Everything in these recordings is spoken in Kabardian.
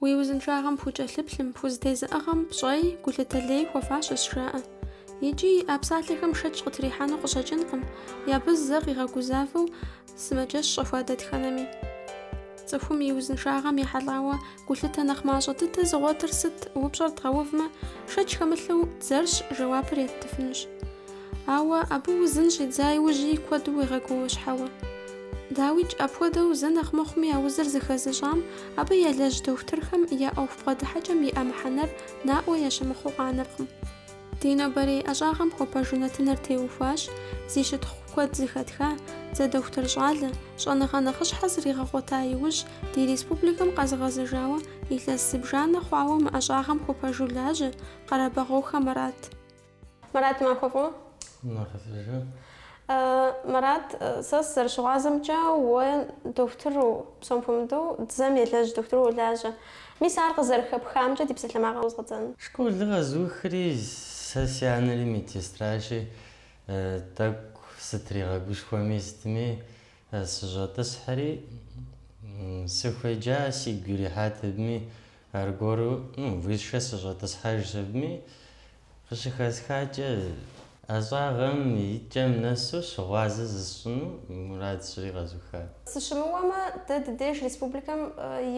Уи узыншагъэм пхукӏэлъыплъым, пхузэтезыӏыгъэм пщӏэи, гулъытэ лей хуэфащэщ жаӏэ. Икӏи а псалъэхэм шэч къытрихьэну къыщӏэкӏынкъым, абы зэ къигъэгузавэу, Сымаджэщ щӏэхуа дэтхэнэми. Цӏыхум и узыншагъэм ехьэлӏауэ гулъытэ нэхъ мащӏэ дыдэ зыгъуэтыр сыт, упщӏэр дгъэувмэ, шэч хэмылъу дзэрщ, жэуапыр еттыфынущ. Ауэ абы узын щӏидза иужьи куэду уегъэгуауэщхьэуэ. Дауикӏ, апхуэдэу зэ нэхъ мыхъуми а узыр зыхэзыщӏам, абы елэжь дохутырхэм я ӏуэху бгъэдыхьэкӏэм иӏэ мыхьэнэр наӏуэ ящымыхъуу къанэркъым. Ди нобэрей ӏэщӏагъэм хуэпэжу нэтыныр теухуащ зи щытхъу куэд зыхэтха, дзэ дохутыр щӏалэ, щӏэныгъэ нэхъыщхьэ зригъэгъуэта иужь, ди республикэм къэзыгъэзэжауэ, илъэс зыбжанэ хъуауэ мы ӏэщӏагъэм хуэпэжу лажьэ, Къэрэбэгъуохэ Марат. Марат, махуэ фӏыуэ! Махуэ сэ жи. Мэрат, сэ сызэрыщыгъуазэмкӏэ, уэ дохутыру, псом хуэмыдэу, дзэм елэжь дохутыру уолажьэ. Мис ар къызэрыхэпхамкӏэ ди псалъэмакъыр къыщӏэздзэну. Школыр къэзухри, сэ си анэри медсестращи, тӏэкӏу сытригъэгушхуэми сытми, сыщӏэтӏысхьэри, сыхуеджа, сигу ирихьат абыми, аргуэру, ну, высшэ сыщӏэтӏысхьэжащ абыми. Къыщыхэсхакӏэ, ӏэщӏагъэм и кӏэм нэсу щыгъуазэ зысщӏыну мурад сщӏыри къэзухат. Сыщымыуэмэ, дэ ди деж республикэм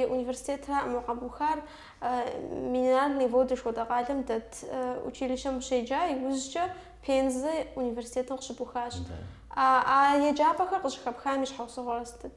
и университетракъым къэбухар Минеральные воды жыхуэтӏэ къалэм дэт училищэм ущеджа, иужькӏэ Пензэ университетым къыщыбухащ. А еджапӏэхэр къыщыхэпхам и щхьэусыгъуэр сытыт?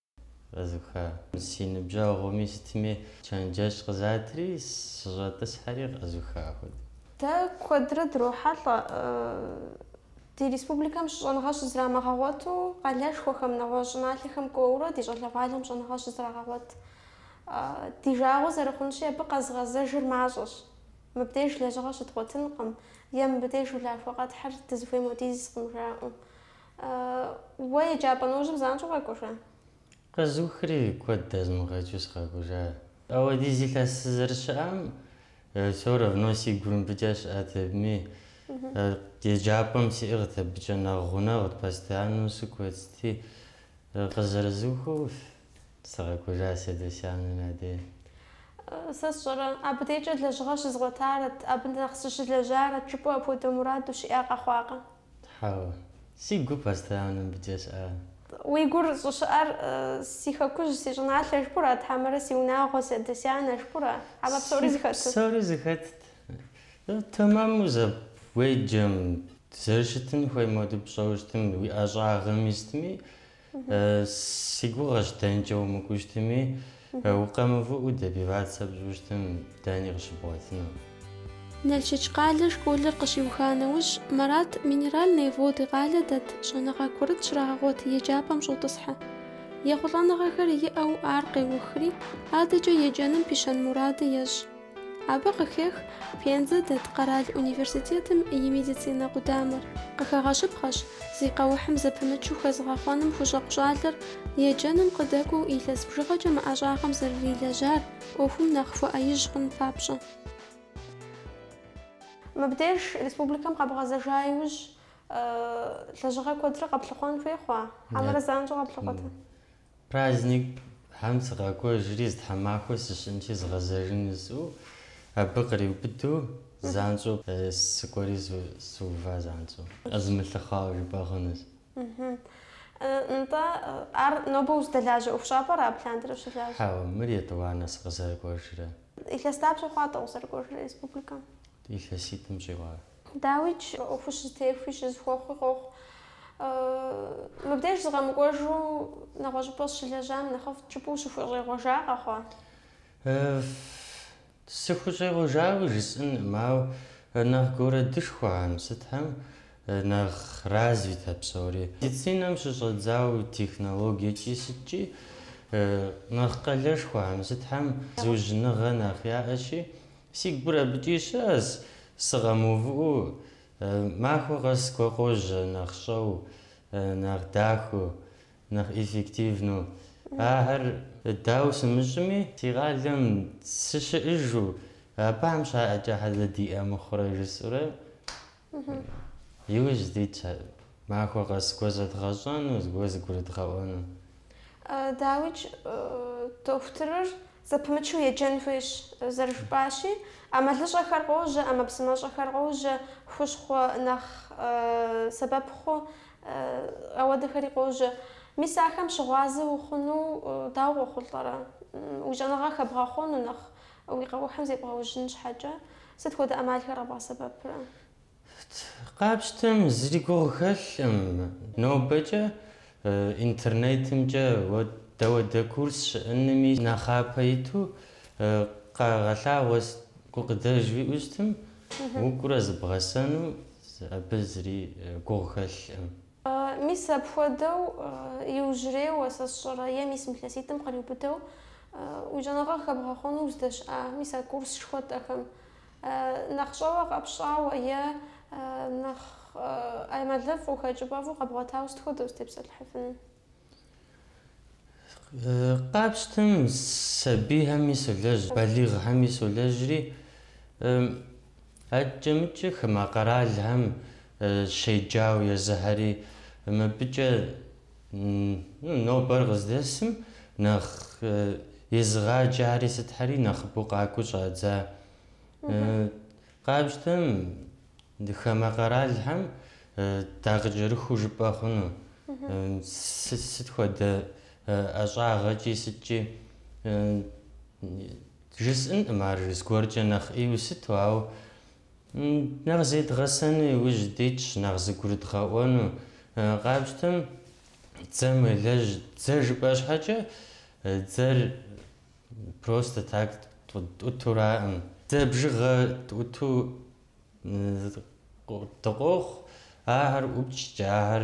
Къэзуха. Си ныбжьэгъуми сытми чэнджэщ къызатри, сыщӏэтӏысхьэри къэзуха хуэдэу. Дэ куэдрэ дрохьэлӏэ ди республикэм щӏэныгъэ щызрамыгъэгъуэту къалэшхуэхэм, нэгъуэщӏ щӏыналъэхэм кӏуэурэ ди щӏалэгъуалэм щӏэныгъэ щызрагъэгъуэт. Ди жагъуэ зэрыхъунщи, абы къэзыгъэзэжыр мащӏэщ. Мыбдеж лэжьыгъэ щыдгъуэтынкъым е мыбдеж улахуэ къэтхьыр дызыхуейм хуэдизкъым жаӏэу. Уэ еджапӏэ нэужьым занщӏэу укъэкӏуэжа? Къэзухри куэд дэзмыгъэкӏыу сыкъэкӏужа. Ауэдиз илъэс сызэрыщыӏам все равно си гур мыбыкӏэ щыӏэт абыми. Еджапӏэм сиӏыгът абыкӏэ нэхъ гъунэгъут, постояннэу сыкӏуэцти. Къызэрызухыу сыкъэкӏужа си адэ си анэм я деж. Сэ сщӏэрэ, абы дежкӏэ лэжьыгъэ щызгъуэтарэт, абы нэхъ сыщылэжьарэт жыпӏэу апхуэдэ мурад ущиӏа къэхъуакъэ? Хьэуэ. Си гур постоянно мыбыкӏэ щыӏа? Уи гур щӏыщыӏэр си хэкужь, си щӏыналъэ жыпӏура, хьэмэрэ си унагъуэ, си адэ-си анэ жыпӏура? Хьэмэ псори зыхэту? Псори зыхэтт. Тэмэму зэ уеджэм, зэрыщытын хуейм хуэдэу пщӏэу щытым, уи ӏэщӏагъэми сытми, Си гугъэщ дэнкӏэ умыкӏуэу щытми, укъэмывыӏуэу добиваться пщӏыуэ щытым, дэни къыщыбгъуэтыну. Налшык къалэ школыр къыщиуха нэужь, Марат Минеральные воды къалэ дэт щӏэныгъэ курыт щрагъэгъуэт еджапӏэм щӏотӏысхьэ. Ехъулӏэныгъэхэр иӏэу ар къеухри, адэкӏэ еджэным пищэн муради ещӏ. Абы къыхех Пензэ дэт къэрал университетым и медицинэ къудамэр. Къыхэгъэщыпхъэщ, зи къэухьым зэпымычу хэзыгъэхъуэным хущӏэкъу щӏалэр еджэным къыдэкӏуэу илъэс бжыгъэкӏэ мы ӏэщӏагъэм зэрырилэжьар ӏуэхум нэхъ хуэӏэижь хъун папщӏэ. Мыбдеж республикэм къэбгъэзэжа иужь лэжьыгъэ куэдрэ къэплъыхъуэн хуей хъуа? Хьэмэрэ занщӏэу къэплъыхъуэта? Праздникхэм сыкъакӏуэжри, зы тхьэмахуэ сыщыӏэнщи згъэзэжын жысӏэу, абы къриубыдэу занщӏэу сыкӏуэри сыува занщӏэу. Къэзымылъыхъуауэ жыпӏэ хъунущ. Нтӏэ, ар нобэ ущыдэлажьэ ӏуэхущӏапӏэра абы лъандэрэ ущылажьэ? Хьэуэ, мыр етӏуанэ сыкъызэрыкӏуэжрэ. Илъэс дапщэ хъуа-тӏэ укъызэрыкӏуэжрэ республикэм? Илъэситӏым щӏигъуауэ. Дауикӏ, мы ӏуэхур щызэтехуи щызэхуэхъуи къохъу. Мыбдеж сыкъэмыкӏуэжу нэгъуэщӏыпӏэ сыщылэжьам нэхъыфӏт жыпӏэу ущыхущӏегъуэжа къэхъуа? Сыхущӏегъуэжауэ жысӏэнкъым, ауэ нэхъ городышхуэхэм сытхэм нэхъ развитэ псори. Медицинэм щыщӏэдзауэ технологиекӏи сыткӏи нэхъ къалэшхуэхэм сытхэм зыужьыныгъэ нэхъ яӏэщи, Си гур абыкӏи щыӏэщ, сыкъэмыувыӏэу, махуэ къэс зыгуэр къожьэ нэхъ щӏэу, нэхъ дахэу, нэхъ эффективнэу. Ахэр дауэ сымыщӏми, си къалэм сыщыӏыжу, абыхэм щаӏэкӏэ щхьэ дэ диӏэ мыхъурэ жысӏэурэ Иужь дитщ ар. Махуэ къэс зыгуэр зэдгъэщӏэну, зыгуэр зыгурыдгъэӏуэну. Дауикӏ, дохутырыр зэпымычу еджэн хуейщ, зэрыжыпӏащи, ӏэмалыщӏэхэр къожьэ, ӏэмэпсымэщӏэхэр къожьэ, хущхъуэ нэхъ сэбэп хъу апхуэдэхэри къожьэ. Мис ахэм щыгъуазэ ухъуну дауэ къохъулӏэрэ? Уи щӏэныгъэ хэбгъэхъуэну нэхъ Уи къэухьым зебгъэужьын щхьэкӏэ сыт хуэдэ ӏэмалхэр къэбгъэсэбэпрэ? Къапщтэм зыри гугъу хэлъым. Нобэкӏэ интернетымкӏэ дауэдэ курс щыӏэнми нэхъапэ иту къагъэлъагъуэ, гукъыдэж уиӏэу щытым, укӏурэ зыбгъэсэну абы зыри гугъу хэлъым. Мис апхуэдэу иужьрейуэ, сэ сщӏэрэ, е мис мы лъэситӏым къриубыдэу уи щӏэныгъэ хэбгъэхъуну уздэщыӏа мис а курс хуэдэхэм? Нэхъ щӏэуэ къэпщӏауэ е нэхъ ӏэмалыфӏу, хэкӏыпӏэфӏу къэбгъуэтауэ сыт хуэдэ узытепсэлъыхьыфын? Къапщтым сабийхэми солэжь, балигъхэми солэжьри, акӏэ-мыкӏэ хамэ къэралхэм щеджауэ езыхэри, мыбыкӏэ нобэр къыздэсым нэхъ езыгъаджэхэри сытхэри нэхъыбэу къакӏуэу щӏадза. Къапщтэм Хамэ къэралхэм дакъыкӏэрыхуу жыпӏэ хъунущ, сыт хуэдэ ӏэщӏагъэкӏи сыткӏи, жысӏынкъым ар зыгуэркӏэ нэхъ ӏейуэ сыту, ауэ нэхъ зедгъэсэну иужь дитщ, нэхъ зыгурыдгъэӏуэну. Къапщтэм дзэм уелэжь, дзэ жыпӏэ щхьэкӏэ, дзэр Просто так тӏутураӏым. Дзэ бжыгъэ тӏуту дыкъохъу, ахэр ӏупчкӏэ, ахэр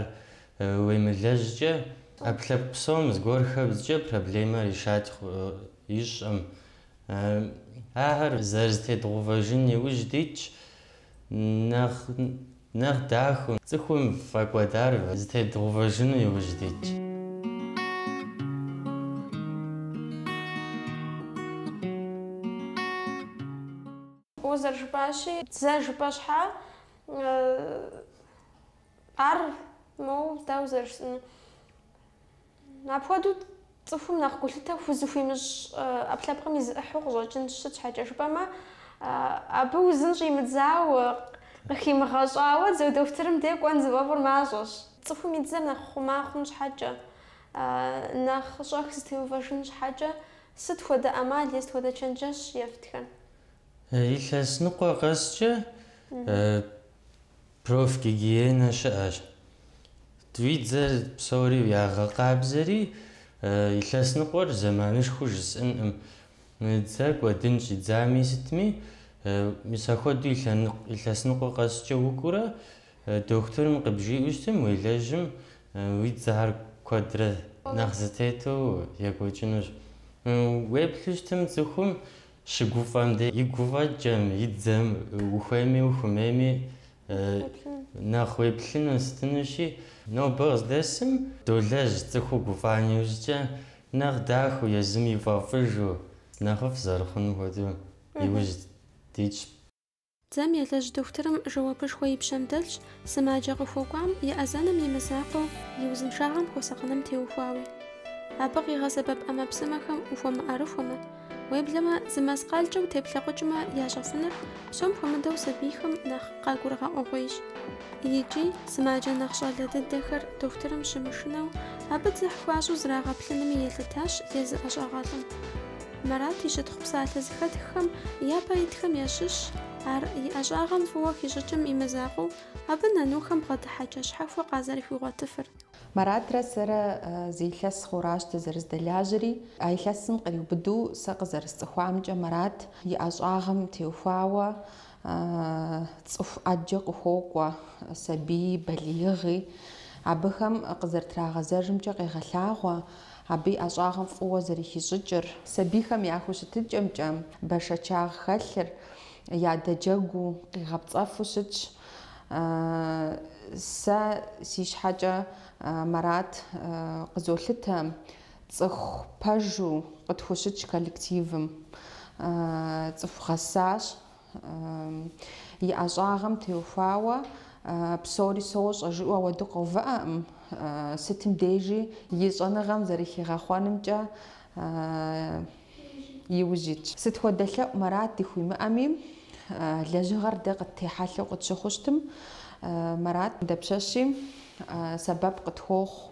уемылэжькӏэ, ӏэпкълъэпкъ псом зыгуэр хэбзкӏэ проблемэр решать ищӏым. Ахэр зэрызэтедгъувэжын иужь дитщ, нэхъ Нэхъ дахэу, цӏыхум фӏэкӏуэдар зытедгъэувэжыну иужь дитщ. Уэ зэрыжыпӏащи, дзэ жыпӏэ щхьа? Ар моуэ дауэ зэрыжысӏэнур? Апхуэдэу цӏыхум нэхъ гулъытэ хузыхуимыщӏ ӏэпкълъэпкъым и зы ӏыхьу къыщӏэкӏынщ. Сыт щхьэкӏэ жыпӏэмэ, абы узын щӏимыдзау, къыхимыгъэщӏауэ дзэ дохутырым де кӏуэн зыфӏэфӏыр мащӏэщ. Цӏыхум и дзэр нэхъ хъума хъун щхьэкӏэ, нэхъ щӏэх зытеувэжын щхьэкӏэ сыт хуэдэ ӏэмал е сыт хуэдэ чэнджэщ ефтхэ? Илъэс ныкъуэ къэскӏэ Профгигиенэ щыӏэщ. Уи дзэр псори ягъэкъабзэри, илъэс ныкъуэр зэманышхуэу жысӏэнкъым. Дзэ кӏуэдын щӏидзами сытми, мис ахуэдэу илъэс ныкъуэ къэскӏэ укӏуурэ дохутырым къыбжиӏэу щытым, уелэжьым уи дзэхэр куэдрэ нэхъ зытету екӏуэкӏынущ. Уеплъу щытым цӏыхум Щыгуфӏэм де и гуфӏэкӏэм, и дзэм ухуейми ухумейми нэхъ уеплъыну щытынущи, нобэ къыздэсым долэжь цӏыхуу гуфӏам иужькӏэ нэхъ дахэу, езым ифӏэфӏыжу, нэхъыфӏ зэрыхъунум хуэдэу иужь дитщ. Дзэм елэжь дохутырым жэуапышхуэ и пщэм дэлъщ сымаджэ къыхуэкӏуам и ӏэзэным и мызакъуэу и узыншагъэм хуэсакъыным теухуауи. Абы къигъэсэбэп ӏэмэпсымэхэм ухуэмыӏэрыхуэмэ, уеблэмэ зы мэскъалкӏэ утеплъэкъукӏмэ ящӏэфыныр псом хуэмыдэу сабийхэм нэхъ къагурыгъэӏуэгъуейщ. Икӏи, сымаджэ нэхъ щӏалэ дыдэхэр дохутырым щымышынэу абы дзыхь хуащӏу зрагъэплъынми елъытащ езы ӏэщӏагъэлӏым. Марат и щытхъу псалъэ зыхэтххэм япэ итхэм ящыщщ, ар и ӏэщӏагъэм фӏыуэ хищӏыкӏым и мызакъуэу, абы нанухэм бгъэдыхьэкӏэ щхьэхуэ къазэрыхуигъуэтыфыр. Маратрэ сэрэ зы илъэс хъуращ дызэрыздэлажьэри. А илъэсым къриубыду сэ къызэрысцӏыхуамкӏэ Марат и ӏэщӏагъэм теухуауэ цӏыху ӏэджэ къыхокӏуэ сабийи, балигъи, абыхэм къызэрытрагъэзэжымкӏэ къегъэлъагъуэ абы и ӏэщӏагъэм фӏыуэ зэрыхищӏыкӏыр. Сабийхэм я хущытыкӏэмкӏэ бэшэчагъ хэлъыр ядэджэгуу къигъэпцӏэфу щытщ. Сэ си щхьэкӏэ Марат къызолъытэ. Цӏыху пэжу къытхущыт коллективым цӏыху гъэсащ. И ӏэщӏагъэм теухуауэ псори сощӏэ жиӏэу ауэду къэувыӏэкъым, сытым дежи и щӏэныгъэм зэрыхигъэхъуэнымкӏэ и ужь итщ. Сыт хуэдэ лъэӏу Марат дыхуимыӏэми, лэжьыгъэр дэ къыттехьэлъэу къытщыхъу щытым, Марат дапщэщи сэбэп къытхуохъу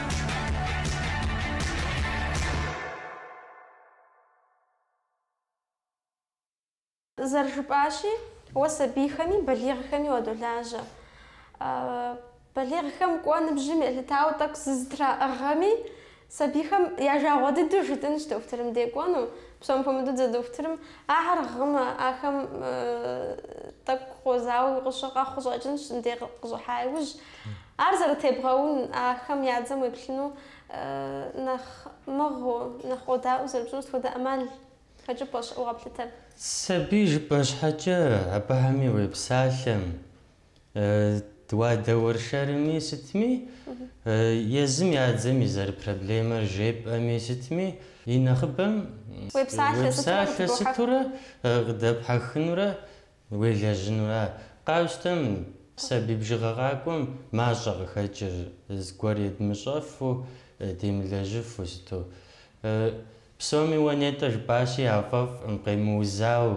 Зэрыжыпӏащи, уэ сабийхэми, балигъхэми уадолажьэ. Балигъхэм кӏуэ ныбжьым елъытауэ тӏэкӏу зызэтраӏыгъэми, сабийхэм я жагъуэ дыдэу жытӏэнщ дохутырым де кӏуэну. Псом хуэмыдэу дзэ дохутырым ахэр гъымэ, ахэм тӏэкӏу къозауэуи къыщы къэхъу къыщӏэкӏынщ, мыдэ къыщӏыхьа иужь. Ар зэрытебгъэун, ахэм я дзэм уеплъыну нэхъ мыгъыу, нэхъ къодаӏуэу зэрыпщӏыну сыт хуэдэ ӏэмал хэкӏыпӏэ щыӏэу къэплъытэр. Сабий жыпӏэ щхьэкӏэ абыхэми уепсалъэм, уадэуэршэрми сытми, езым я дзэм и зэрыпроблемэр жепӏэми сытми, и нэхъыбэм уепсалъэ сытурэ къыдэпхьэхынурэ, Уелэжьынура? Къапщтэм сабий бжыгъэ къакӏуэм мащӏэ къыхэкӏыр, зыгуэр едмыщӏэфу, демылэжьыфу сыту. Псоми уэ нетӏэ жыпӏащи, яфӏэфӏкъым, къемыузауэ,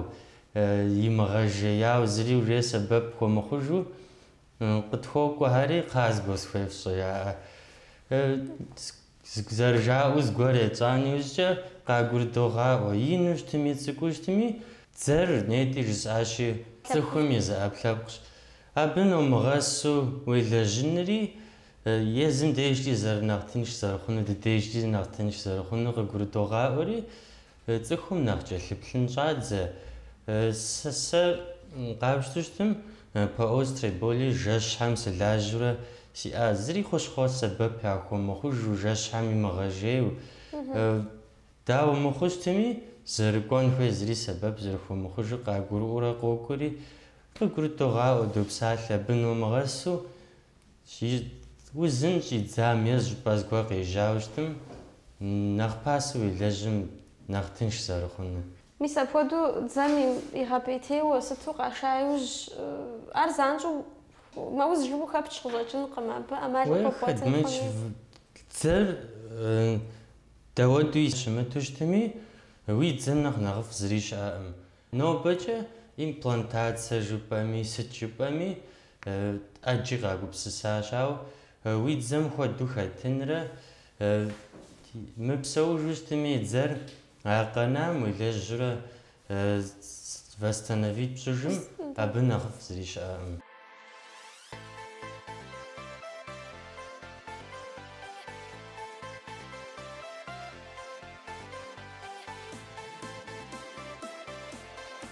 имыгъэжеяу, зыри уже сэбэп хуэмыхъужу къытхуокӏуэхэри, кхъа, зыгуэр схуефщӏэ, жаӏэ. Зэрыжаӏэу зыгуэр етщӏа нэужькӏэ къагурыдогъаӏуэ, ину щытми, цӏыкӏуу щытми, дзэр нетӏи жысӏащи, цӏыхум и зы ӏэпкълъэпкъщ. Абы номыгъэсу уелэжьынри, езым дежкӏи зэрынэхъ тынш зэрыхъунур, ди дежкӏи нэхъ тынш зэрыхъунур къыгурыдогъаӏуэри, Цӏыхум нэхъ кӏэлъыплъын щӏадзэ. Сэ къапщтэу щытым, по острой боли жэщхэм сылажьэурэ сиӏа. Зыри хущхъуэ сэбэп яхуэмыхъужу, жэщхэм имыгъэжейуэ. Дауэ мыхъуу щытми, зэрыкӏуэн хуей зыри сэбэп зэрыхуэмыхъужыр къагурыӏуэурэ къокӏуэри, къыгурыдогъаӏуэ, допсалъэ, абы номыгъэсу. Узын щӏидзам е щӏыпӏэ зыгуэр къежьауэ щытым, нэхъ пасэу уелэжьым нэхъ тынш зэрыхъунур. Мис апхуэдэу дзэм игъэпӏейтейуэ сыту къаша иужь, ар занщӏэу мэуз жыпӏэу хэпч къыщӏэкӏынкъым, абы ӏэмал къыхуэбгъуэтынкъыми. Дзэр дауэдэуи щымыту щытми, уи дзэм нэхъ нэхъыфӏ зыри щыӏэкъым. Нобэкӏэ имплантация жыпӏэми, сыт жыпӏэми, ӏэджи къагупсысащ, ауэ уи дзэм хуэдэу хэтынрэ мыпсэужу щытми и дзэр а къэнам уелэжьрэ восстановить пщӏыжым абы нэхъыфӏ зыри щыӏэкъым.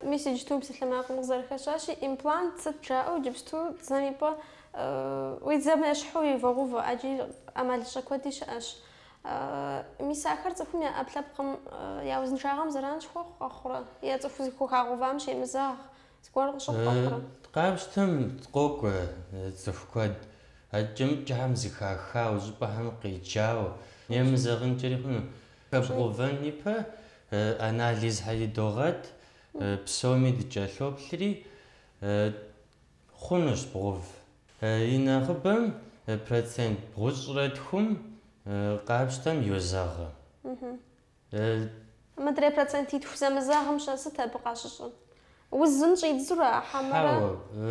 Мис иджыпсту мы псалъэмакъым къызэрыхэщащи, имплант сыт жаӏэу иджыпсту дзэм и пӏэ уи дзэм ещхьу ивогъэувэ, ӏэджи ӏэмалыщӏэ куэди щыӏэщ. Мис ахэр цӏыхум я ӏэпкълъэпкъым я узыншагъэм зэран щыхуэхъу къэхъурэ? Е цӏыху зыхухагъэувам щемызэгъ, зыгуэр къыщыхъу къэхъурэ? Дэ къапщтэм, къокӏуэ цӏыху куэд, акӏэ-мыкӏэхэм зыхахауэ, щӏыпӏэхэм къеджауэ, емызэгъынкӏэри хъуну. Хэбгъэувэн ипэ Анализхэри догъэт, псоми дыкӏэлъоплъри, хъунущ бгъув. И нэхъыбэм процент бгъущӏрэ тхум къапщтэм йозэгъы. Мыдрей процентитху зэмызэгъым-щэ сыт абы къащыщӏыр? Узым щӏидзурэ, хьэмэрэ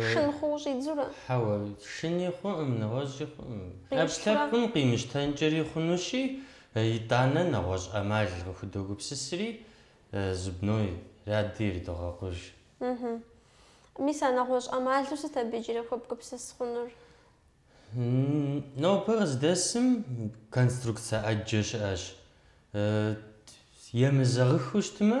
шын хъууэ щӏидзурэ? Хьэуэ, шыни хъуӏым, нэгъуэщӏи хъуӏым. ӏэпкълъэпкъым къимыщтэнкӏэри хъунущи, итӏанэ нэгъуэщӏ ӏэмал къыхудогупсысри, зубной ряди ирыдогъэкъуж. Ыхьы. Мис а нэгъуэщӏ ӏэмалу сыт абы иджыри хуэбгупсыс хъунур? Нобэ къыздэсым конструкцэ ӏэджэ щыӏэщ. Емызэгъыхыу щытмэ,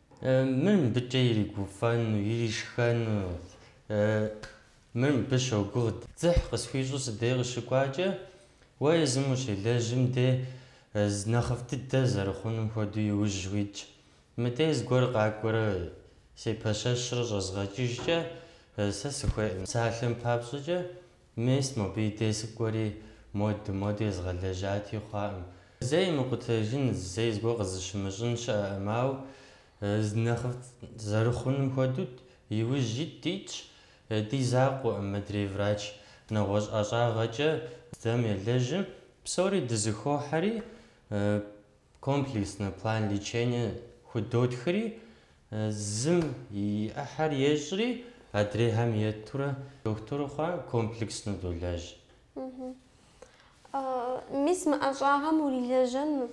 Мыр мыбыкӏэ иригуфӏэну, иришхэну. Мыр мыбы щогугъ. Дзыхь къысхуищӏу си дей къыщыкӏуакӏэ, уэ езым ущелэжьым де, нэхъыфӏ дыдэ зэрыхъунум хуэдэу иужь уитщ. Мыдей зыгуэр къакӏуэрэ сепэщэщрэ щӏэзгъэкӏыжкӏэ, сэ сыхуейкъым. Псалъэм папщӏэкӏэ, Мес, мобы и дей сыкӏуэри, моды, моды езгъэлэжьати, хъуакъым. Зэи мыкъутэжын, зэи зыгуэр къызыщымыщӏын щыӏэкъым, ауэ зы нэхъыфӏ зэрыхъунум хуэдэу иужь ит, дитщ. Ди закъуэкъым, мыдрей врач нэгъуэщӏ ӏэщӏагъэкӏэ дзэм елэжьым, псори дызэхохьэри, Комплекснэ план лечения худотхри, зым и ӏыхьэр ещӏри, адрейхэм етурэ дохутыр хъуа комплекснэу долэжь. Мис мы ӏэщӏагъэм урилэжьэну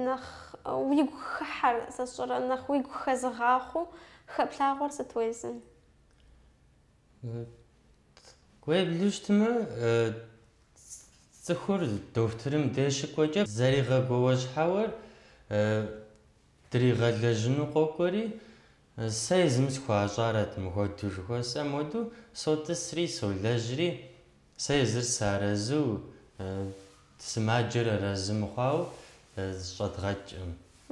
нэхъ уигу хыхьэр сэ сщӏэрэ, нэхъ уигу хэзыгъахъуэу хэплъагъуэр сыт уэ езым? Уеплъу щытмэ, цӏыхур дохутырым деж щыкӏуэкӏэ зэригъэгуауэщхьэуэр дригъэлэжьыну къокӏуэри, сэ езым схуащӏарэт мыхуэдэу жыхуэсӏэм хуэдэу, сотӏысри, солэжьри, Сэ езыр сыарэзу, сымаджэр арэзы мыхъуауэ щӏэдгъэкӏкъым.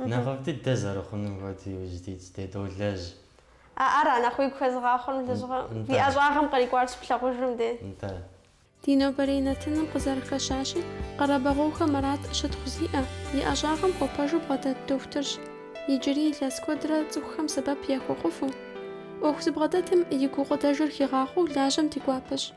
Нэхъыфӏ дыдэ зэрыхъунум хуэдэу иужь дитщ, дэ долэжь. А ар а нэхъ уигу хэзыгъахъуэм лэжьыгъэм ди ӏэщӏагъэм кърикӏуар щыплъагъужым де. Нтӏэ. Ди нобэрей нэтыным къызэрыхэщащи, Къэрэбэгъуэхэ Марат щытхъу зиӏэ, и ӏэщӏагъэм хуэпэжу бгъэдэт дохутырщ. Иджыри илъэс куэдрэ цӏыхухэм сэбэп яхуэхъуфу. ӏуэху зыбгъэдэтым и гукъыдэжыр хигъахъуэу лажьэмэ ди гуапэщ.